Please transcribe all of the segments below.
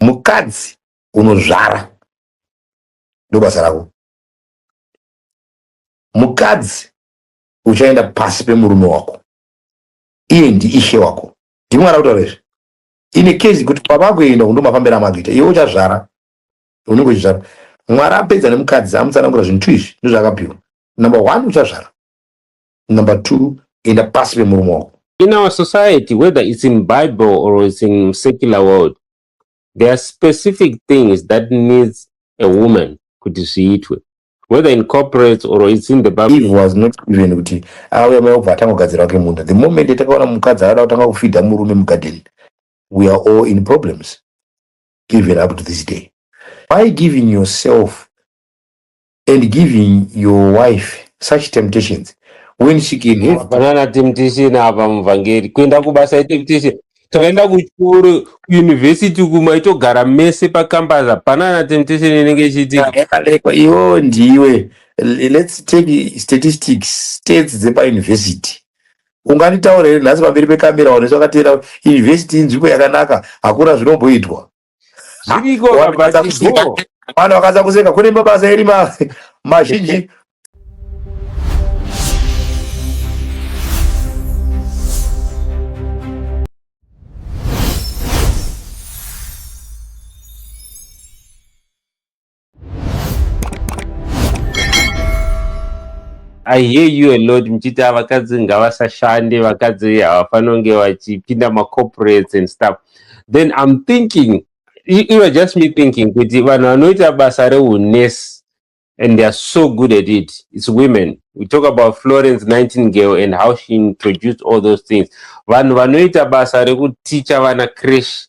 mukadzi unozvara ndobasa rako mukadzi uchaenda pasi pemurume wako iye ndiishe wako ndimwana kutaura izvi ine kezi kuti kwavakuenda undo mafambira amagita iwe uchazvara unenge uchizvara mwari apedza nemukadzi amutsanangura zvinhu tu izvi ndozvaakapiwa number one uchazvara number two enda pasi pemurume wako in our society whether it's in bible or it's in secular world there are specific things that needs a woman kuti zviitwe whether in corporate or it's in the bible eve was not even kuti auya mai obva atangogadzira wake munda the moment yatakaona mukadzi akada kutanga kufidha murume mugarden we are all in problems even up to this day by giving yourself and giving your wife such temptations when she can have hapana na temptation apa muvhangeri kuenda kubasa itemptation takaenda kuchikoro kuuniversity uku maitogara mese pacampus hapana na temptation inenge ichiitika yakalekwa iwo ndiwe L- let's take statistics states dzepauniversity unganditaura here nhasi pamberi pekamera vanhu vese vakateera university inzvimbo yakanaka hakuna zvinomboitwa zviriko kabatigo mwana wakadza kuseka kune mabasa eri mazhinji I hear you a lot muchiti vakadzi ngavasashande vakadzi havafanira kunge vachipinda macorporates and stuff then i'm thinking you are just me thinking kuti vanhu vanoita basa reunurse and they are so good at it it's women we talk about florence 19 girl and how she introduced all those things vanhu vanoita basa rekuticha vana crash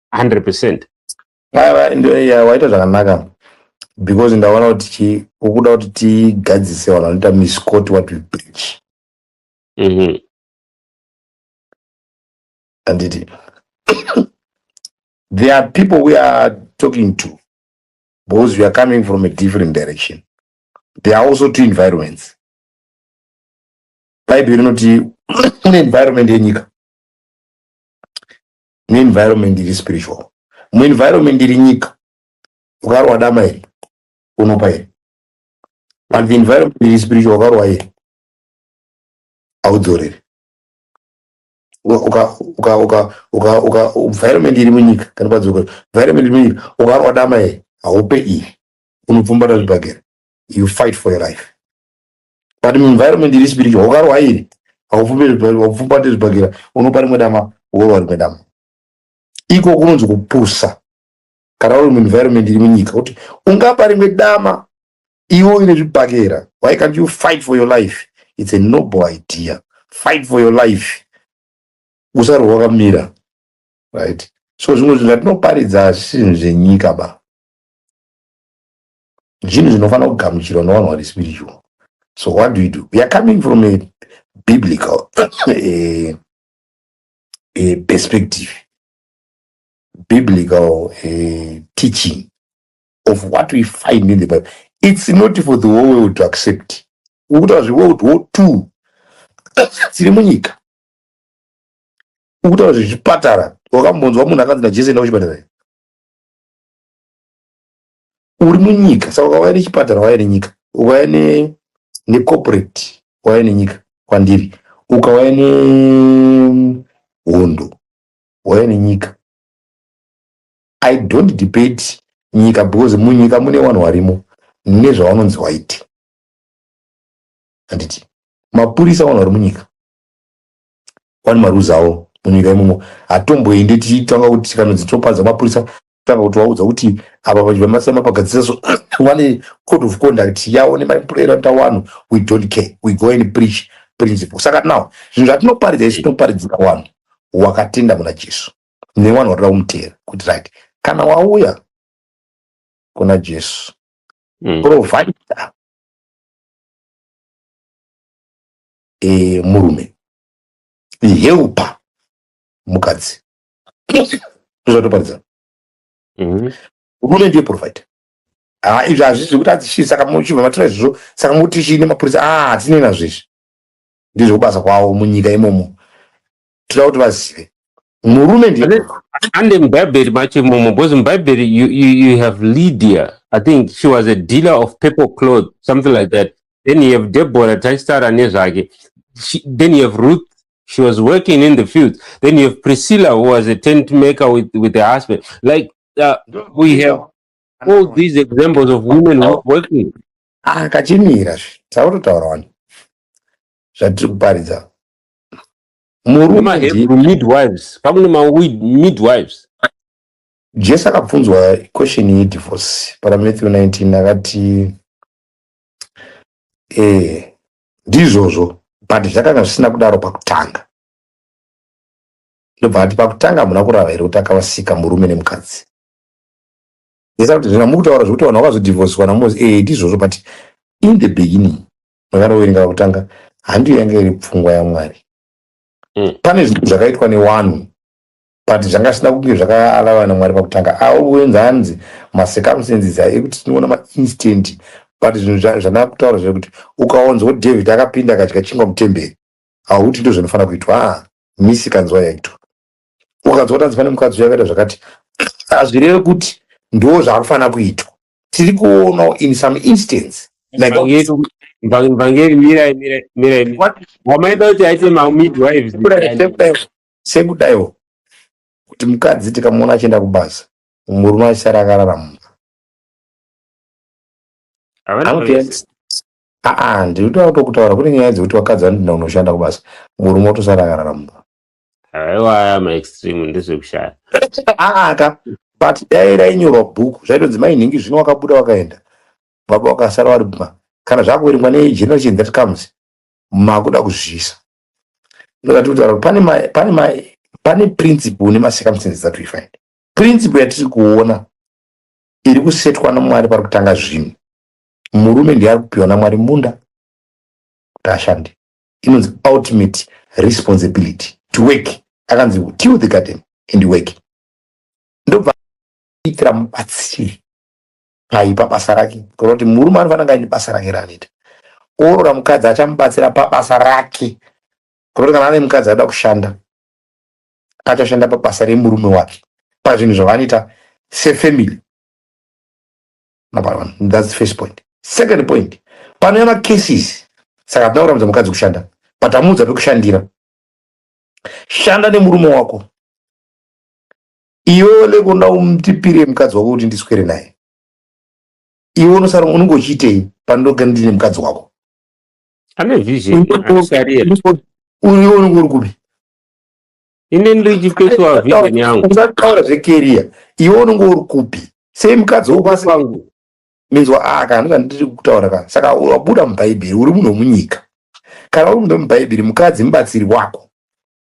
100 percent waita zvakanaka because ndaona kuti chi ukuda kuti tigadzise vanhu vanoita miscot what we preach mm-hmm. anditi there are people we are talking to because we are coming from a different direction there are also two environments bhaibheri rinoti kune environment yenyika muenvironment iri spiritual muenvironment iri nyika ukarwa dama iri unopa iri but the environment iri spiritual ukarwa iri haudzoreri environment iri munyika kana padzoko environment iri munyika ukarwa dama iri haupe iri unopfumbata zvibhagera you fight for your life but muenvironment iri spiritual ukarwa iri haupfumbate zvibhakera unopa rimwe dama worwa rimwe dama iko kunonzi kupusa kana uri muenvironment iri munyika kuti ungapa rimwe dama iwe uine zvibhakera why can't you fight for your life it's a noble idea fight for your life usarwa wakamira right so zvimwe zvinhu zvatinoparidza zvisinhu zvenyika ba zvinhu zvinofanira kugamuchirwa nevanhu vari spiritual so what do you do we are coming from a biblical a, a perspective biblical a teaching of what we find in the bible it's not for the whole world to accept ukutaura zveworld war two dziri munyika ukutaura zvezvipatara wakambonzwa munhu akanzi najesu enda kuchipatara uri munyika saka ukauya nechipatara wauya nenyika ukauya ne, necorporate wauya nenyika kwandiri ukauya nehondo wauya nenyika i don't debate nyika because munyika mune vanhu varimo nezvavanonzi waite handiti mapurisa vanhu vari munyika one marules awo munyika imomo hatomboende tichitanga kuti tikanonzi topanza mapurisa tanga kuti waudza kuti ava vamasema pagadzisa so vane code of conduct yawo nemapurera tawano we don't care we go and preach principle saka now zvinhu zvatinoparidza izvi tinoparidzira wanhu wakatenda muna jesu newanhu watoda kumuteera kuti right kana wauya kuna jesu mm. provider e, murume helper mukadzi zvatoparidza mm-hmm. murume ndiye provider ah, izvi hazvisi zvekuti adzishii saka muchibva matora izvozvo saka mukuti chii nemapurisa ah, hatinei nazvo izvi ndizvo kubasa kwavo munyika imomo toda kuti vazive murume ndiye ande mubhaibheri macho imomo because mubhaibheri you, you, you have lydia i think she was a dealer of paper cloth something like that then you have deborah taistara nezvake then you have ruth she was working in the field then you have priscilla who was a tent maker with, with her husband like uh, we have all these examples of women oh. working ah, kachimira zve tautotaura wani zvatiri kuparidza murumahebru midwives pamwe nemamidwives jesu akabvunzwa question yedivorce pana matthew 19 akati eh, ndizvozvo but zvakanga zvisina kudaro pakutanga ndobva ati pakutanga hamuna kurava here kuti akavasika murume nemukadzi esa kuti zvina mukutaura zvekuti vanhu vakazodivhosiswa namosi ee eh, ndizvozvo but in the beginning zvakanoverenga kutanga handiyo yanga iri pfungwa yamwari mm. pane zvinhu zvakaitwa newanhu but zvanga zvisina kunge zvakaalavana namwari pakutanga aoenzi hanzi macircumstances ekuti tinoona mainstant but zvinhu zvanaa kutaura zvekuti ukaonzwa david akapinda akadya chingwa mutemberi hauti ndo zvinofanira kuitwa a ah, misi kanzwa yaitwa ukanzwa kuti hanzi pane mukadzi uyakaita zvakati hazvireve kuti ndo zvaakufanira kuitwa tiri kuonawo in some instance like Vhangeri- vhang- vhangeri mirai mirai mirai mirai. what wamaida kuti aite mamidwives Sekudai- sekudai- sekudaiwo kuti mukadzi tikamuona achienda kubasa murume achisara akarara mumba Havana Anopinda- vese. aa ndinotoda kutokutaura kune nyaya dzekuti vakadzi vanotoenda kunoshanda kubasa murume otosara akarara mumba aiwaya maextreme ndezvekushaya aaka but dai rainyorwa bhuku zvaitonzi mai nhingi zvino wakabuda wakaenda baba wakasara wari bma kana zvakuverengwa negeneration that comes makuda kuzvisa ndokati kutaura kuti pane ma- pane ma- pane principle nemacircumstances that we find principle yatiri kuona iri kusetwa namwari pari kutanga zvinhu murume ndiye ari kupiwa namwari munda kuti ashande inonzi ultimate responsibility to work akanzi till the garden and work ndobva itira mubatsiri pai pabasa rake kana kuti murume anofanira kunge aine basa rake raanoita oorora mukadzi achamubatsira pabasa rake kana kuti kana ane mukadzi anoda kushanda achashanda pabasa remurume wake pazvinhu zvavanoita sefamily number one that's the first point second point panouya macases saka hatina kuramudza mukadzi kushanda but amuudza pekushandira shanda nemurume wako iwe lekonda umtipire mukadzi wako kuti ndiswere naye iwe unosara unenge uchiitei pandoga ndine mukadzi wako ane vision uyo unenge uri kupi ini ndiri chifesuwa vision yangu usataura zvekeriya iwe unenge uri kupi sei mukadzi wopasi pangu minzwa a ah, kana ndika ndiri kutaura ka saka wabuda mubhaibheri uri munhu wemunyika kana uri munhu wemubhaibheri mukadzi mubatsiri wako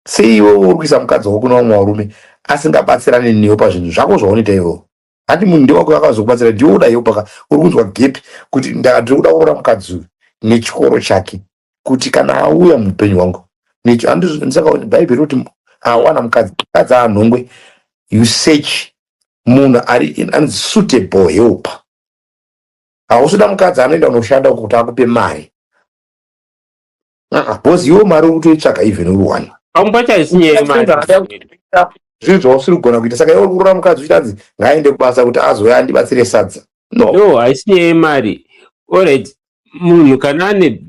sei iwe uri kuisa mukadzi wako kuna vamwe varume asingabatsirane newe pazvinhu zvako zvaunoita iwewo handi munhu ndewako vakazokubatsira ndiwe uda help ka uri kunzwa gepi kuti ndiri kuda kuona mukadzi uyu nechikoro chake kuti kana auya muupenyu hwangu necho handisakaoni bhaibheri kuti awana mukadzi mukadzi aanhongwe you search munhu ari anonzi suitable help hausuda mukadzi anoenda unoshanda kuti akupe mari Ah, boss iwe mari ukutoitsvaga even uri one Pamumba chaisinyeyo manje. zvinhu zvausiri kugona kuita saka iwe uri kurora mukadzi uchinzi ngaaende kubasa kuti azouya andibatsire sadza no No, haisinyeyo mari. Alright, munhu kana ane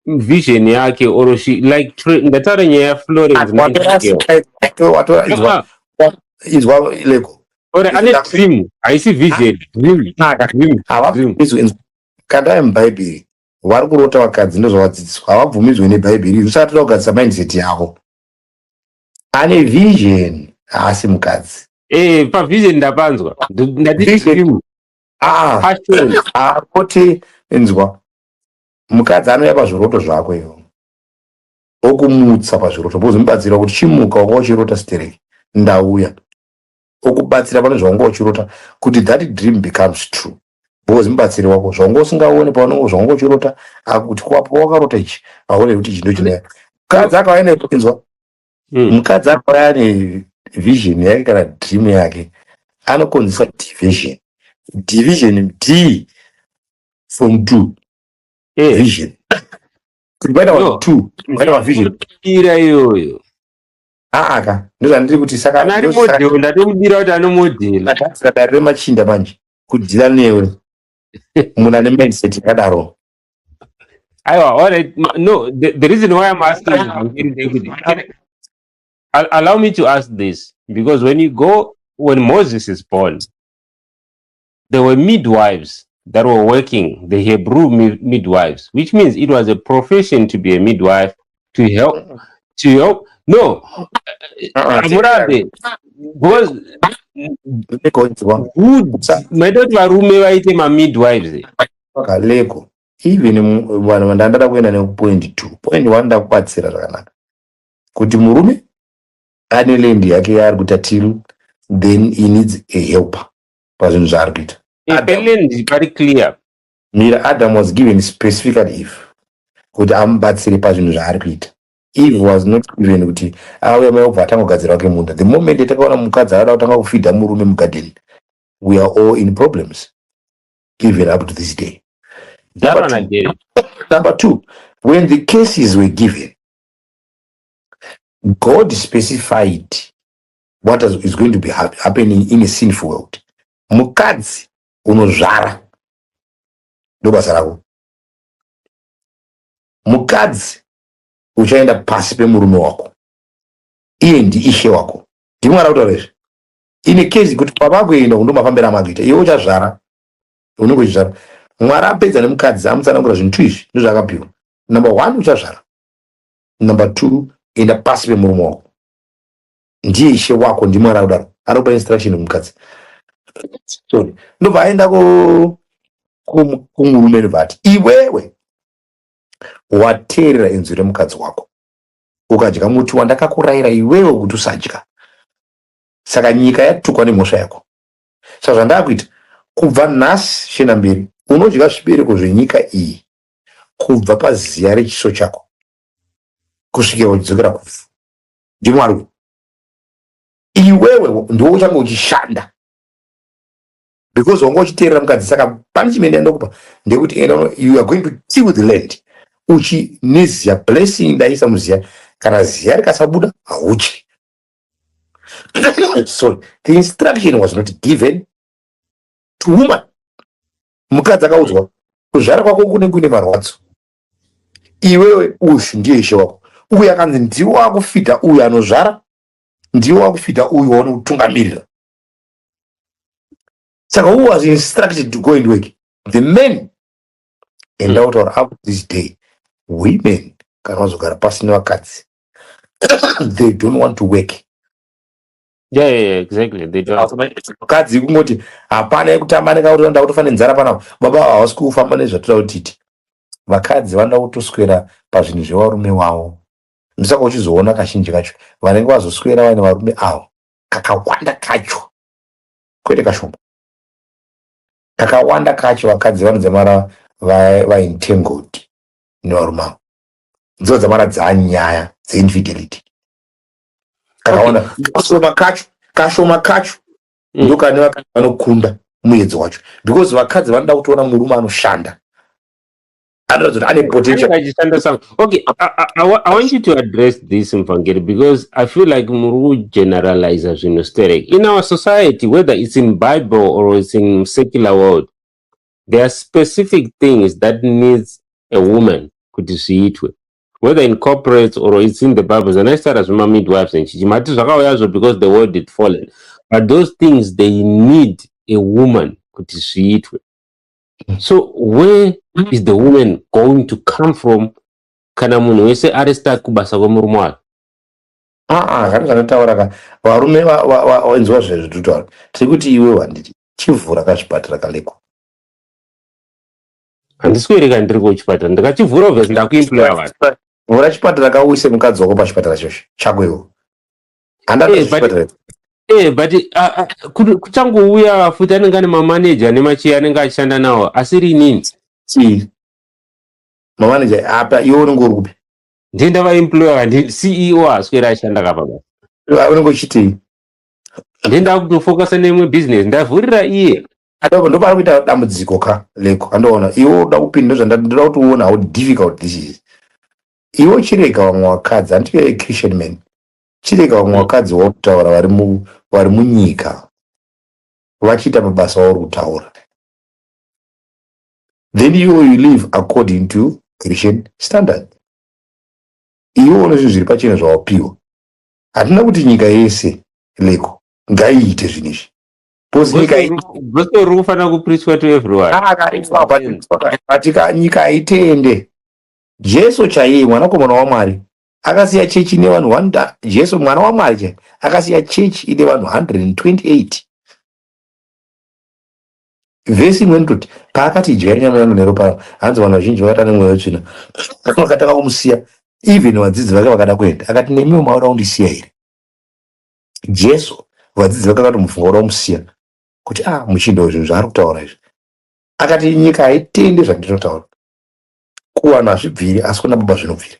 vision yake or she like tra- ndataura nyaya yaFlorence Nightingale. Watora- watora- izwa- Ah, izwa leko Or ane dream, haisi vision, dream, dream, dream. havabizwi kandai mubhaibheri vari kurota vakadzi ndozvavadzidziswa havabvumidzwe nebhaibheri iri usatira kugadzisa mindset yavo ane vision haasi mukadzi Eh, pavision ndapanzwa Nd- ndati Vision. dream Ah, passion ah, kuti inzwa mukadzi anouya pazviroto zvako ivo okumutsa pazviroto bozomubatsira kuti chimuka waka uchirota stereki ndauya okubatsira pane zvaunge uchirota kuti that dream becomes true because mubatsiri wako zvaunge usingaone paunenge zvaunge uchirota akuti kwapo wakarota ichi aone kuti ichi ndochine mukadzi akauya neinzwa hmm. mukadzi akauya ne vision yake kana dream yake anokonzesa division division d from two eh. vision kuti paita vanhu two paita vavision ira iyoyo aa ka ndozvandiri kuti saka Kana ari ndosaka- model ndatomudira kuti ano model. ndakasika dare remachinda manje kudhila newe munhu ane mindset yakadaro Aiwa, all right. Ma- No, the, the reason why I'm asking is Vangeri ndeyekuti- Can I- Al- allow me to ask this because when you go when Moses is born there were midwives that were working, the Hebrew midwives, which means it was a profession to be a midwife to help, uh-uh. to help. No, uh-uh. Amurabe, because maitoti varume vaite mamidwives kaleko even vanhu vandandada kuenda nekupoint two point one ndakubatsira zvakanaka kuti murume ane land yake yaari kutatiru then he needs a helper pazvinhu zvaari kuita Ipeland pari clear mira adam was given specifically eve kuti amubatsire pazvinhu zvaari kuita eve was not given kuti auya mai obva atangogadzirwa kemunda the moment yatakaona mukadzi akada kutanga kufidha murume mugarden we are all in problems even up to this day Number Daro two, naJerry. number two when the cases were given god specified what is going to be happening in a sinful world mukadzi unozvara ndobasa rako mukadzi uchaenda pasi pemurume wako iye ndiishe wako ndimwari akutaura izvi ine kezi kuti pavakuenda kundomafambira amagita iwe uchazvara unenge uchizvara mwari apedza nemukadzi amutsanangura zvinhu tu izvi ndozvaakapiwa number one uchazvara number two enda pasi pemurume wako ndiye ishe wako ndimwari akudaro anopa instruction kumukadzi sorry ndobva aenda ku- ku- kumurume ndobva ati iwewe wateerera inzwi remukadzi wako ukadya muti wandakakurayira iwewe kuti usadya saka nyika yatukwa nemhosva yako saka zvandakuita kubva nhasi shena mberi unodya zvibereko zvenyika iyi kubva paziya rechiso chako kusvikira uchidzokera kufu ndimwari uyu iwewe ndiwe uchange uchishanda because wanga uchiteerera mukadzi saka pane chimene ndokupa ndekuti you are going to till the land uchi neziya blessing ndaisa muziya kana ziya rikasabuda hauchi sorry the instruction was not given to woman mukadzi akaudzwa kuzvara kwako kune kuine marwadzo iwewe uyu ndiye ishe wako uyu akanzi ndiwo wakufidha uyu anozvara ndiwo wakufidha uyu waone kutungamirira saka who was instructed to go and work the men enda kutaura up this day women kana vazogara pasi nevakadzi they don't want to work Yeah, yeah, yeah, exactly. They don't. Asi mai- mukadzi kungoti hapana yekutamba nekauri vanoda kutofa nenzara panapa baba ava havasi kufamba nezvatira kutiti vakadzi vanoda kutoswera pazvinhu zvevarume wavo ndosaka uchizoona kazhinji kacho vanenge vazoswera vaine varume avo kakawanda kacho kwete kashoma kakawanda kacho vakadzi vanodzamara va- vaentangled nevarume avo ndidzo dzamara dzaanyaya dzeinfidelity akaona kashoma kacho kashoma kacho mm. ndokane vakadzi vanokunda muedzo wacho because vakadzi vanoda kutoona murume anoshanda anoratidza kuti ane potential okay I, I, I, i want you to address this mvangeri because i feel like muri kugeneraliza zvinhu sterek in our society whether it's in bible or it's in secular world there are specific things that needs a woman kuti zviitwe whether in corporates or it's in the bible zvanaisara zvema midwives and chichi mati zvakauyazvo because the world it fallen but those things they need a woman kuti zviitwe so where is the woman going to come from kana munhu wese ari start kubasa kwemurume wayo aa kana zvanotaura ka varume vainzwa zvezvi tutaura tiri kuti iwe wanditi chivhura kazvipatara kaleko handisweri ka ndiri kuchipatara ndikachivhura obvious ndakuimplaya vanhu vhura chipatara ka uise mukadzi wako pachipatara chocho chako iwo handada Eh, but- zvechipatara icho. Eh, but ah, ah, kudu- kuchangouya futi anenge ane mamaneja nemachiya anenge achishanda nawo asiri inini Chii? mamaneja apa iwe unenge uri kupi ndiye ndavaemployer ndi ceo aswera ashanda kapa basi Ah, unenge uchitii ndiye ndakutofokasa neimwe business ndavhurira iye Adoko ndopari kuita dambudziko ka leko andoona iwe uda kupinda zvandandira kuti uone how difficult this is iwe uchirega vamwe vakadzi hanti you're a christian man chirega vamwe Mm. vakadzi wauri kutaura vari mu- vari munyika vachiita mabasa auri kutaura then you you live according to christian standard iwe une zvinhu zviri pachena zvawapiwa hatina kuti nyika yese leko ngaiite zvinhu izvi Because nyika Gospel iri- ru- gospel ruri kufanira kupreachwa to everyone Ah, akaitwa akaitwa, katika nyika haitende jesu chaiye mwanakomana wamwari akasiya chechi ine vanhu 100 jesu mwana wamwari chaiye akasiya chechi ine vanhu 128 vhesi imweni toti paakati idyai nyama yangu neropa yangu hanzi vanhu vazhinji vakata nemweya wetsvina vakatanga kumusiya even vadzidzi vake vakada kuenda akati nemiwo maoda kundisiya here Jesu vadzidzi vake vakati mufungo romusiya kuti a ah, muchindo zvinhu zvaari kutaura izvi akati nyika haitende zvandinotaura kuvanhu hazvibviri asi kuna baba zvinobviri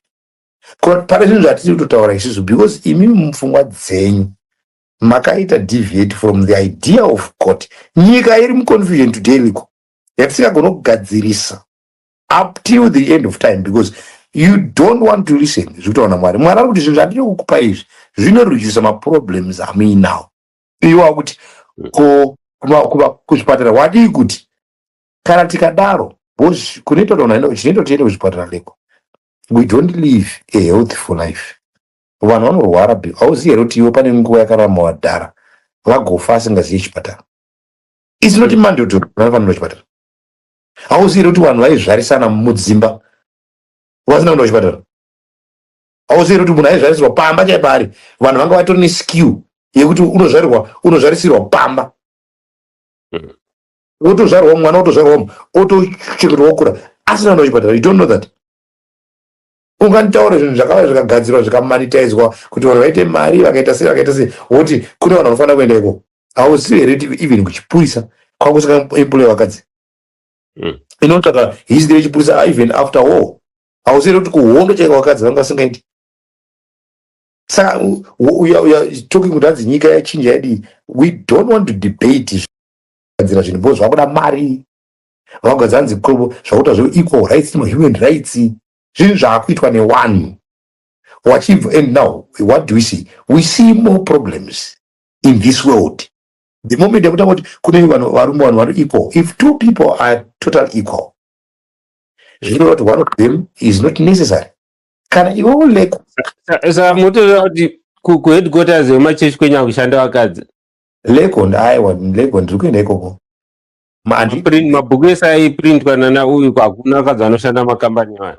pane zvinhu zvatiri kutotaura isisu because imi mupfungwa dzenyu makaita deviate from the idea of god nyika iri muconfusion today liko yatisingagona kugadzirisa up till the end of time because you don't want to listen zvekutaura mwari mwari ari kuti zvinhu zvandiri kukupa izvi zvinoredusa maproblems amuinawo iwa kuti ko kuzvipatara wadii kuti kana tikadaro kunoita chinoita tiende kuzvipatara leko we don't live a healthful life vanhu vanorwara be hauzivi here kuti iwe pane nguva yakarama wadhara vagofa asingazivi chipatara isinoti mm. mandotoo vanofanira chipatara hauzivi here kuti vanhu vaizvarisana mudzimba vasina kuenda kuchipatara hauzivi here kuti munhu aizvarisirwa pamba chaipo ari vanhu vanga vatori neskill yekuti unozvarirwa unozvarisirwa pamba hmm. wotozvarwa mwana wotozvarwa otochengetwa wokura asina kuenda kuchipatara you don't know that unganditaura zvinhu zvakava zvikagadzirwa zvikamanitaizwa kuti vanhu vaite mari vakaita sei vakaita sei woti kune vanhu vanofanira kuenda ikoko hauzivi here kuti even kuchipurisa kwakusaka employe vakadzi hmm. inotsvaka history yechipurisa even after war hauzivi here kuti kuhondo chaika vakadzi vanga vasingaiti saka talking kuti hanzi nyika yachinja yadii we don't want to debate zvadzira zvinhu bcause vakuda mari vanga dzanzi zvakuita zve equal rights ma human rights zvinhu zvaakuitwa newanhu wachibva and now what do we see we see more problems in this world the moment yakuta kuti kune vanhu varume vanhu vari equal if two people are total equal zvichireva kuti one of them is not necessary kana iwe uleko saka motoziva kuti kuheadquarters yemachechi kwenyaa kushanda vakadzi lego ndaiwa lego ndiri kuenda ikoko Maprint- mabhuku ese aiprintwa nana uyu hakuna akadzi anoshanda makambani aya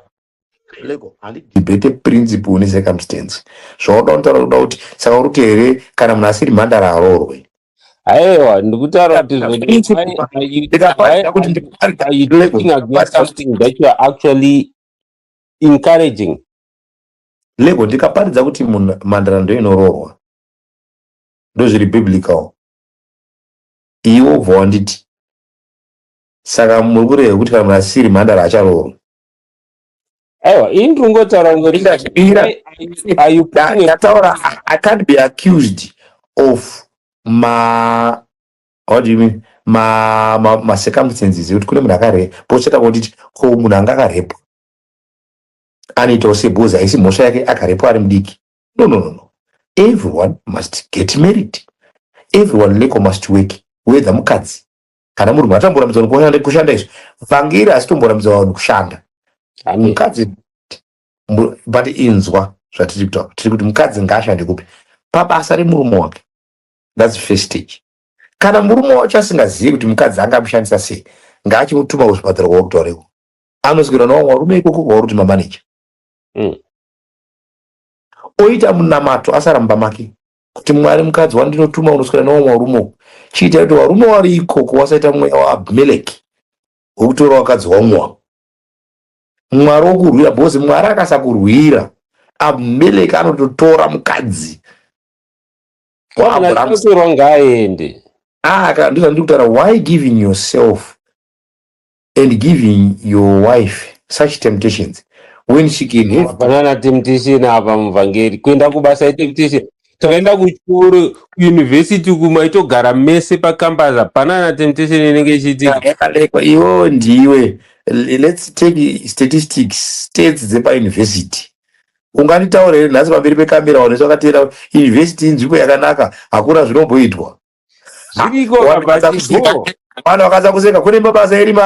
lego handidebate principle necircumstance zvaunoda unotaura kuda kuti saka uri kuti here kana munhu asiri mhandara haroorwe aiwa ndikutaura kuti zve- Principle. why are you- ndikapaida kuti why ndiparika are you lego talking against ndiparika something that you are actually encouraging lego ndikaparidza kuti munhu mhandara ndoinoroorwa ndozviri biblical iwe wobva wanditi saka muri kureva kuti kana munhu asiri mhandara acharoorwa aiwa ini ndiri kungotaura kungoti Ndingazvipira. why are you- are you Da- putting a- ndataura I- i can't be accused of ma what do you mean ma ma, ma circumstances ekuti kune munhu akare pochata kotiti ko munhu anga akarepwa anoitawo sebhozi haisi mhosva yake akarepwa ari mudiki no no no everyone must get married everyone leko must work whether mukadzi kana murume atamborambidzwa nekushanda kushanda izvo vhangeri asi tomborambidzwa vanhu kushanda mukadzi but inzwa zvatiri kutaura tiri kuti mukadzi ngaashande kupi pabasa remurume wake thats first stage kana murume wacho asingazivi kuti mukadzi anga amushandisa sei ngaachimutuma kuzvipatara kwauri kutaureko anoswira nawamwe varume ikoko kwauri kuti mamaneja mm. oita munamato asaramba make kuti mwari mukadzi wandinotuma unoswera newamwe warume uku chiita kuti warume wari ikoko wasaita mweya waabhimeleki wekutora wakadzi wamwe wavo mwari wokurwira bhozi mwari akasakurwira abhimeleki anototora mukadzi waabhuramu Chirongwa aende. aka ndizvandiri kutaura why giving yourself and giving your wife such temptations when she can have hapana na temptation apa muvhangeri kuenda kubasa itemptation takaenda kuchikoro kuuniversity uku maitogara mese pacampus hapana na temptation inenge ichiitika yakalekwa iwewe ndiwe L- let's take statistics states dzepauniversity unganditaura here nhasi pamberi pekamera vanhu vese vakateera university inzvimbo yakanaka hakuna zvinomboitwa zviriko kabatigo mwana wakadza kuseka kune mabasa eri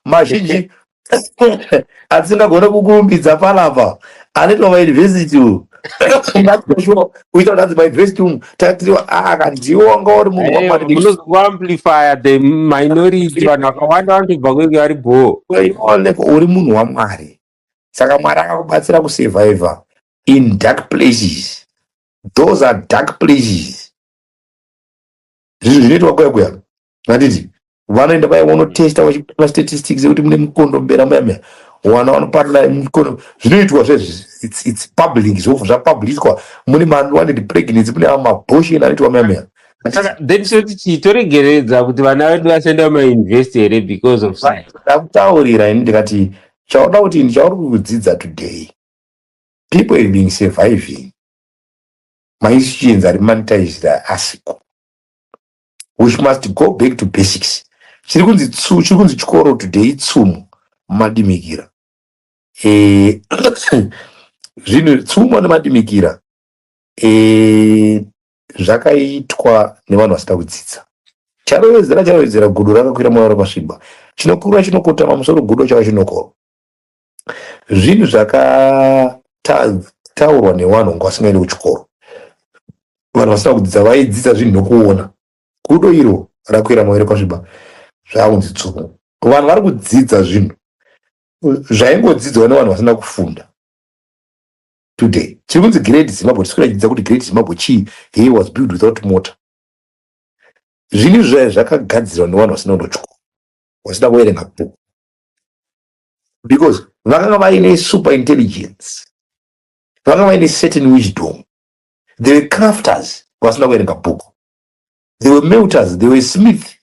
mazhinji atisingagone kukurumbidza panapa anoitwa mauniversity uyu kuita kuti anzi mauniversity umu tatiriwa akandiwo anga uri munhuamplifya the minority vanhu vakawanda vanotobva kwenge vari bhoo uri munhu wamwari saka mwari akakubatsira kusurvivor in dark places those are dark places zvinhu zvinoitwa kuya kuya handiti vanoenda vaya vonotesta vachipara statistics ekuti mune mukondo mbera muya muya wana vanoparira mukondo zvinoitwa zvezvits public zvofu zvapublicwa mune mawanted pregnancy mune amaboshen anoitwa muya muya saka then choti chii toregeredza kuti vana vedu vasaenda kumauniversity here because of science ndakutaurira ini ndikati chauda kuti ini chauri kudzidza today people is being surviving Maisi chienzi ari monetized asiko. We must go back to basics. Chiri kunzi tsu, chiri kunzi chikoro today tsumo madimikira. Eh, zvinhu tsumo nemadimikira eh, zvakaitwa nevanhu vasina kudzidza. Charovedzera charovedzera gudo rakakwira moyo rakasviba. Chinokura chinokotama musoro gudo chava chinokoro. zvinhu zvakataurwa nevanhu vanga vasingaendi kuchikoro vanhu vasina kudzidza vaidzidza zvinhu nokuona gudo iro rakwira mavere kwasviba zvakunzi tsumo vanhu vari kudzidza zvinhu zvaingodzidzwa nevanhu vasina kufunda today tiri kunzi great zimbabwe tisi kuratidza kuti great zimbabwe chii he was build without motor zvinhu izvi zvaya zvakagadzirwa nevanhu vasina kunochikoro vasina kuverenga bhuku because vakanga vaine super intelligence vakanga vaine certain wisdom they were crafters vasina kuverenga book they were melters they were smith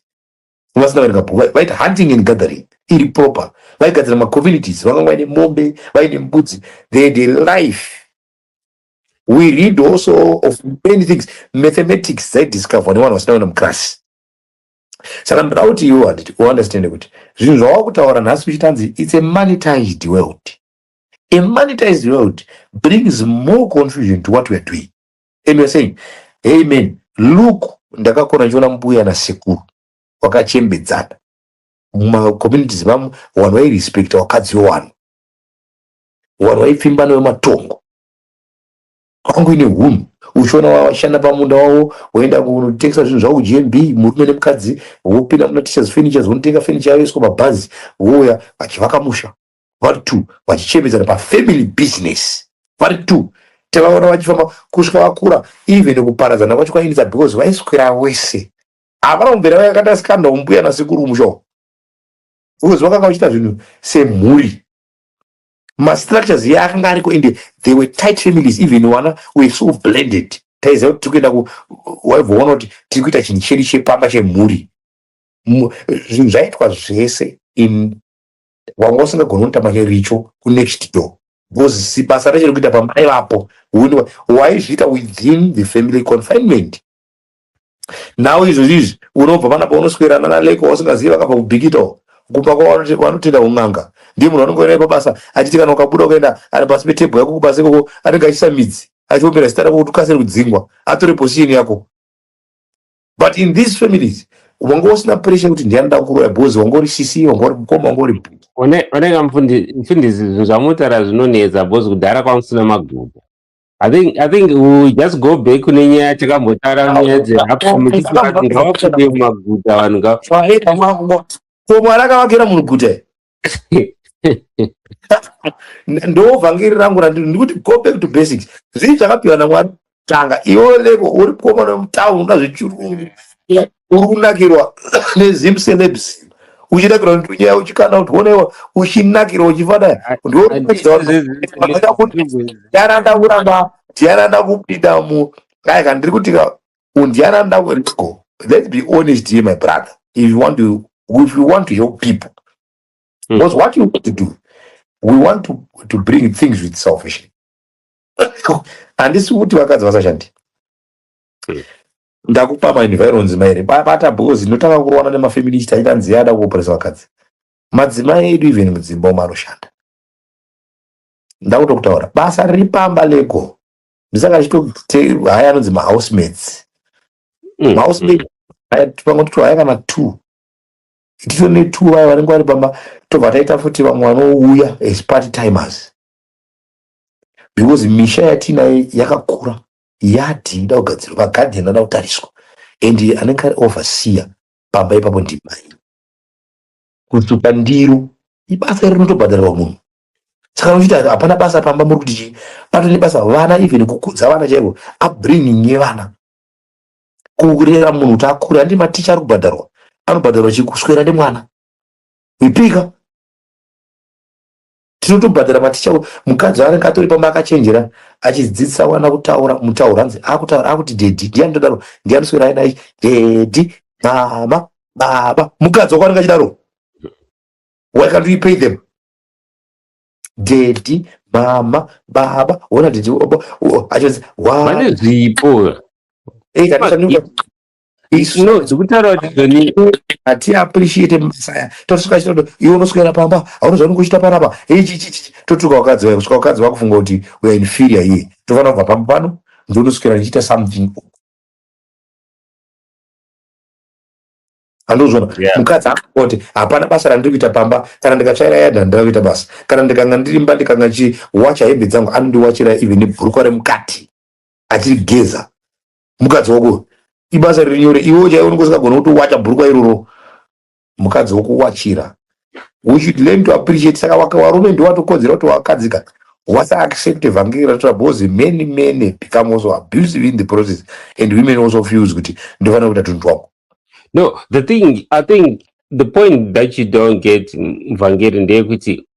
vasina kuverenga book vaita hunting and gathering iri proper vaigadzira macommunities vakanga vaine mombe vaine mbudzi they had a life we read also of many things mathematics dzaidiscoverwa nevanhu vasina kuenda muclass saka ndoda kuti iwe handiti uunderstande kuti zvinhu zvawava kutaura nhasi uchitanzi its a monetized world a monetized world brings more confusion to what weare doing and weare saying hey man look ndakakona ndichiona mbuya nasekuru wakachembedzana mumacommunities mamo vanhu vairespecta wakadzi wewanhu vanhu vaipfimbana vematongo kwangu ine hunhu uchiona washanda pamunda wavo woenda kunotengesa zvinhu zvavo kugmb murume nemukadzi wopinda muna teachers furnitures wonotenga furniture yavo yoiswa mabhazi wouya vachivaka musha vari two vachichemedzana pafamily business vari two tavaona vachifamba kusvika vakura even kuparadzana kwacho kwainetsa because vaiswera wese havana kumbera vakakata sikanda umbuya nasekuru musha because vakanga vachiita zvinhu semhuri mastructures iye akanga ariko ende they were tight families even wana were so blended taiziva kuti tiri kuenda waivoona kuti tiri kuita chinhu chedu chepamba chemhuri zvinhu zvaitwa zvese in wanga usingagoni kuita manje richo kunext door because basa racho rekuita pamba aivapo waizviita within the family confinement nhau izvozvi izvi unobva pana paunoswerana naleko wausingazivi vakabva kubhikitawo kumba kwavo vanotenda un'anga ndiye munhu anonge naye pabasa achiti kana ukabuda ukaenda ari pasi petebho yako kubasa ikoko anenge achisa midzi achiombera zita rako kuti ukasire kudzingwa atore position yako but in these families wanga usina pressure kuti ndiani nda kuroya bhozi wanga uri sisi wanga uri mukoma wanga uri bhuti oneka mfundisi zvinhu zvamunotaura zvinonetsa bhozi kudhara kwanga kusina magumo I think I think we just go back kune nyaya yatakambotaura nyaya dzehapfumitiatingawakude mumaguta vanhu ngava ko mwari akavakira munhu guta ndovhangeri rangu randiri ndikuti go back to basics zvii zvakapiwa namwari tanga iwe leko uri komana mutown unoda zvechirungu uri kunakirwa nezim celebs uchinakirwa ndunyaya uchikana kuti onewa uchinakirwa uchifana ndiana ndakuramba ndiana ndakupinda mu dai kana ndiri kuti ka undiana ndakuko let's be honest here my brother if you want to if you want to help people hmm. because what you want to do we want to, to bring things with salvation handisi kuti vakadzi vasashandi hmm. Ndakupa ma environs mairi bata because ndotanga kurowana nema feminist aita nziya ada kuopresa vakadzi. Madzimai edu even mudzimba umo anoshanda. Ndakuto kutaura basa riri pamba lego. Ndisaka ndichito haya anonzi ma housemates. Mm, Ma housemates mm. pamwe tito haya kana two. Tito ne two vaya vanenge vari pamba tobva taita futi vamwe vanouya as part timers. Because misha yatinayo yakakura. yard inoda kugadzirwa magarden anoda kutariswa and anenge ari overseer pamba ipapo ndimai kusuka ndiro ibasa iri rinotobhadharwa munhu saka unochiti hapana basa pamba muri kuti chii pato nebasa vana even kukudza vana chaivo upbringing yevana kurera munhu kuti akure handi maticha ari kubhadharwa anobhadharwa chikuswera nemwana wipika tinotobhadhara maticha mukadzi anenge atori pamba akachenjera achidzidzisa wana kutaura mutauro hanzi akutaura akuti dhedhi ndiyani todaro ndiyani swera aina ichi dhedhi mama baba mukadzi wako anenge achidaro why can't we pay them dhedhi mama baba ona dhedhi achionzi vane zvipo eh, It's no, dzikutaura kuti Joni hati appreciate mabasa tosvika chitodo iwe unoswera pamba hauna zvaunenge uchita panapa ichichichi totuka wakadzi wayo kusvika wakadzi wakufunga kuti we are inferior here tofanira kubva pamba pano ndionoswera ndichiita something andozvona yeah. mukadzi akoti hapana basa randiri kuita pamba kana ndikatsvaira yadha ndira kuita basa kana ndikanga ndirimba ndikanga chiwacha hembe dzangu anondiwachira even bhurukwa remukati achirigeza mukadzi wako uyu ibasa riri nyore iwewo chaiwo unenge usingagoni kutowacha bhurukwa iroro mukadzi wokuwachira we should learn to appreciate saka waka warume ndiwo watokodzera kuti wakadzika wasa accept evhangeri ratora because many many become also abusive in the process and women also feels kuti ndofanira kuita tunhu twako no the thing i think the point that you don't get mvhangeri ndeyekuti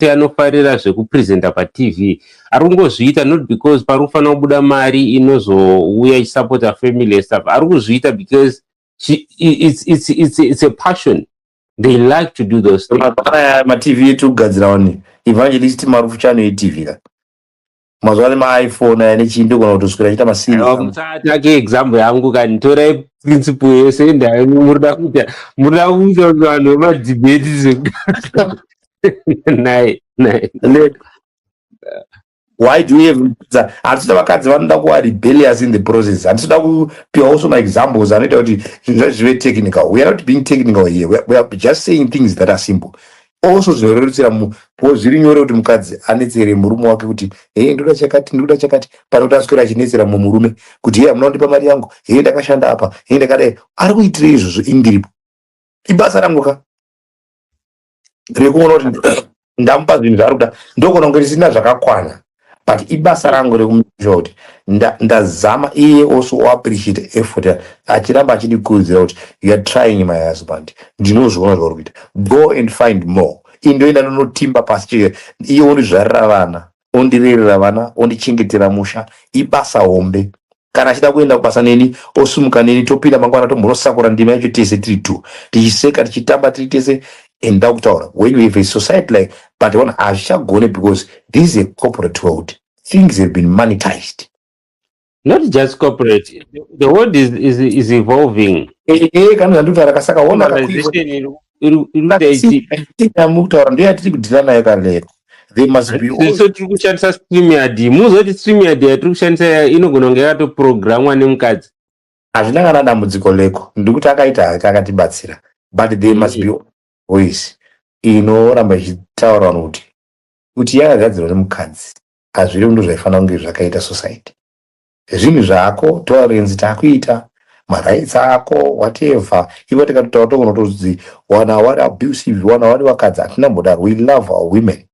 kuti anofarira zvekupresenta patv ari kungozviita not because pari kufanira kubuda mari inozouya ichisupporta family yestuff ari kuzviita because she, it's, it's, it's, it's a passion they like to do those matv etugadzira wani evangelist marufu chanoitivira mazuva ane maiphone aya nechii ndogona kutoswera achiita masiiatake example yangu kani torai principle yese endai murida kuita murida kuita kuti vanhu vemadhibheti naye naye why do you even handisida vakadzi vanoda kuva rebellious in the process handisida kupiwa also maexamples anoita kuti zvinhu zvacho zvive technical we are not being technical here we are just saying things that are simple also zvinorerutsira munhu because zviri nyore kuti mukadzi anetsere murume wake kuti hee ndoda chakati ndoda chakati pane kuti aswera achinetsera mumwe murume kuti hee hamuna kundipa mari yangu hee ndakashanda apa hee ndakadai ari kuitira izvozvo indiripo ibasa rangu ka rekuona kuti ndamupa zvinhu zvaari kuda ndokuona kunge ndisina zvakakwana but ibasa rangu rekumsure kuti ndazama iye also oappreciate effort achiramba achindikurudzira kuti youare trying my husband ndinozviona zvauri kuita go and find more indoenda ndonotimba pasi chee iye ondizvarira vana ondirerera vana ondichengetera musha ibasa hombe Kana achida kuenda kubasa neni osumuka neni topinda mangwana tomhorosakura ndima yacho tese tiri two tichiseka tichitamba tiri tese and ndakutaura when we have a society like but one hazvichagone because this is a corporate world things have been monetized not just corporate the world is, is, is evolving Eh, eh, kana zvandikutaura kasaka ona akakuiwa- Globalization iri iri iri kuita But see, ichipa team yamuri kutaura ndiyo yatiri kudhila nayo kalero they must be all so tiri kushandisa stream yard muzoti stream yard yatiri kushandisa iya inogona kunge yakatoprogramwa nemukadzi hazvina kana dambudziko leko ndikuti akaita hake akatibatsira but they must be all voice inoramba ichitaura vanhu kuti kuti yakagadzirwa nemukadzi hazviri ndo zvaifanira kunge zvakaita society Zvinhu zvako, tolerance takuita, ma rights ako, whatever. Ivo tikatotaura togona kutodzi wana wari abusive, wana wari vakadzi, hatina kumbodaro. We love our women.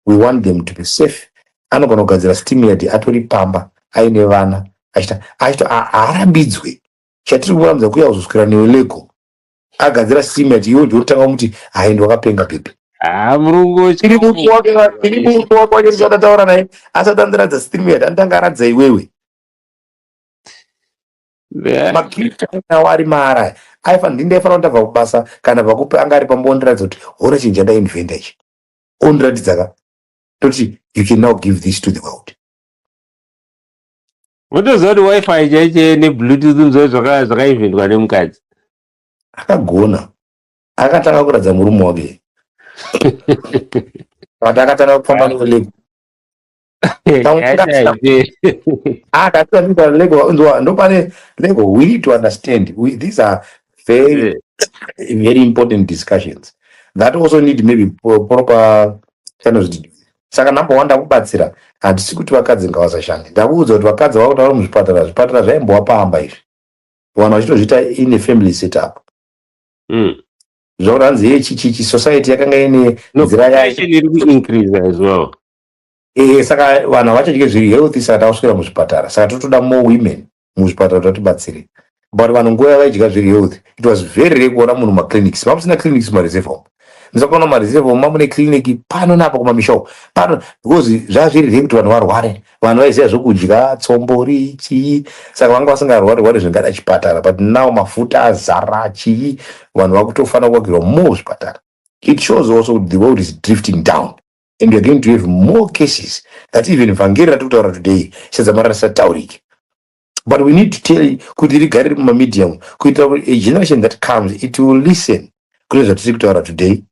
We want them to be safe. Anogona kugadzira steam yard atori pamba, aine vana, achita, achita, haarambidzwe. Chatiri kurambidzwa kuya kuzoswera newe lego. agadzira cement iwe ndotanga kumuti hayi ndiwakapenga bhebhi haa murungu ini murume wake ini murume wake wacho ndichadataura naye asati andiradza stream yati anditanga aradza iwewe makiritainawo ari maara aya aifana ndi ndaifana kuti ndabva kubasa kana vakupe anga ari pamba ondiratidza kuti hona chinhu chandainventa ichi ondiratidza ka toti you can now give this to the world Motoziva kuti wifi chaiche nebluetooth mzoi zvakaivhindwa nemukadzi. Akagona. Akatanga kuratidza murume wake. But akatanga kufamba neulego. Akatanga lego nzwa ndopane lego we need to understand we, these are very very important discussions that also need maybe proper channels saka number one ndakubatsira handisi kuti vakadzi ngavasashande ndakuudza kuti vakadzi vakutaura muzvipatara zvipatara zvaimbowa pamba izvi vanhu vachitozviita ine family set up mm. zvakuti hanzi ye chichichi society yakanga ine nzira yayo e, saka vanhu havachadye zviri healthy saka takuswera muzvipatara saka totoda more women muzvipatara kuti vatibatsire but vanhu nguva yavaidya zviri health it was very rare kuona munhu maclinics mamusina clinics mareserve home musakuona mareserve home mamune clinic pano napa kumamisha uko pano because zvazviri rare kuti vanhu varware vanhu vaiziva zvokudya tsombori chii saka vanga vasingarwari rwari zvingada chipatara but now mafuta azara chii vanhu vakutofanira kuvakirwa more zvipatara it shows also kuti the world is drifting down and weare going to have more cases that even vhangeri ratiri kutaura today sedzamara risataurike but we need to tell kuti rigare riri mumamedium kuitira kuti a generation that comes it will listen kune zvatiri kutaura today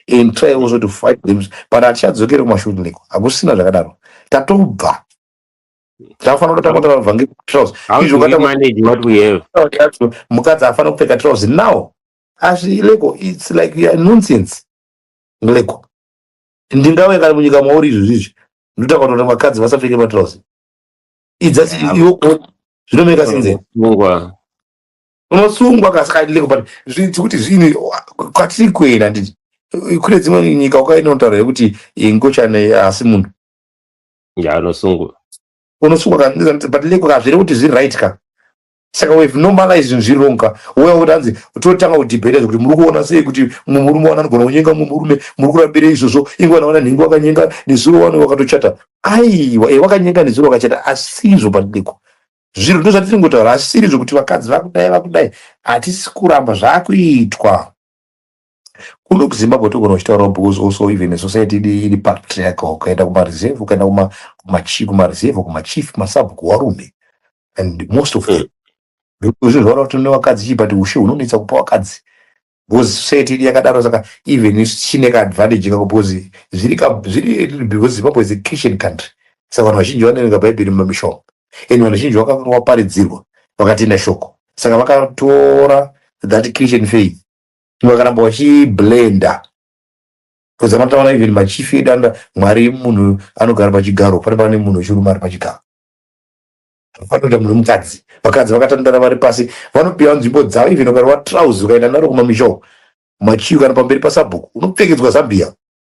and try also to fight them but hatichadzokere kumashuneko hakusina zvakadaro tatobva tafanira kutanga kutaura vhangeri trouse izvo mukadzi hafanira kupfeka trouse now hazvileko its like nonsense leko ndingawe kana munyika mauri izvi zvizvi ndotaka kuona vakadzi vasapfeke matrouse idza iwo zvinomeka sinze unosungwa kasi kadile kupata zvinzi kuti zvinhu kwatiri kuenda nditi kune dzimwe nyika ukaenda unotaura yekuti ngochane asi munhu ya unosungwa unosungwa kabatile kukazvire kuti zviri right ka saka we've normalized zvinhu zviri wrong ka uya kuti hanzi totanga kudhibheta zvekuti muri kuona sei kuti mumwe murume wana anogona kunyenga mumwe murume muri kurambirei izvozvo inge vana vana nhingi wakanyenga nezuro wani wakatochata aiwa e wakanyenga nezuro wakachata asizvo pandiko zviro ndo zvatiri ngotaura asiri zvokuti vakadzi vakudai vakudai hatisi kuramba zvakuitwa kuno kuzimbabwe togona kuchitaurawo because also even a society idi iri patriarchal ukaenda kumareserve ukaenda kuma- kumachi- kumareserve kumachief masabhuku warume and most of them zvinhu zvavara kuti tine vakadzi chii but ushe hunonetsa kupa vakadzi because society idi yakadaro saka even isu tichine kaadvantage kako because zviri ka- zviri because zimbabwe is a christian country saka vanhu vazhinji vanoverenga bhaibheri mumamishoma and vanhu vazhinji vakaparidzirwa vakatenda shoko saka vakatora that christian faith vakaramba vachiblenda because anotaura even machief edu anoda mwari munhu anogara pachigaro pane pane munhu wechirume ari pachigaro vanoita munhu mukadzi vakadzi vakatandara vari pasi vanopiwa nzvimbo dzavo even ukarova trouse ukaenda naro kumamishow machiu kana pamberi pasabhuku unopfekedzwa zambia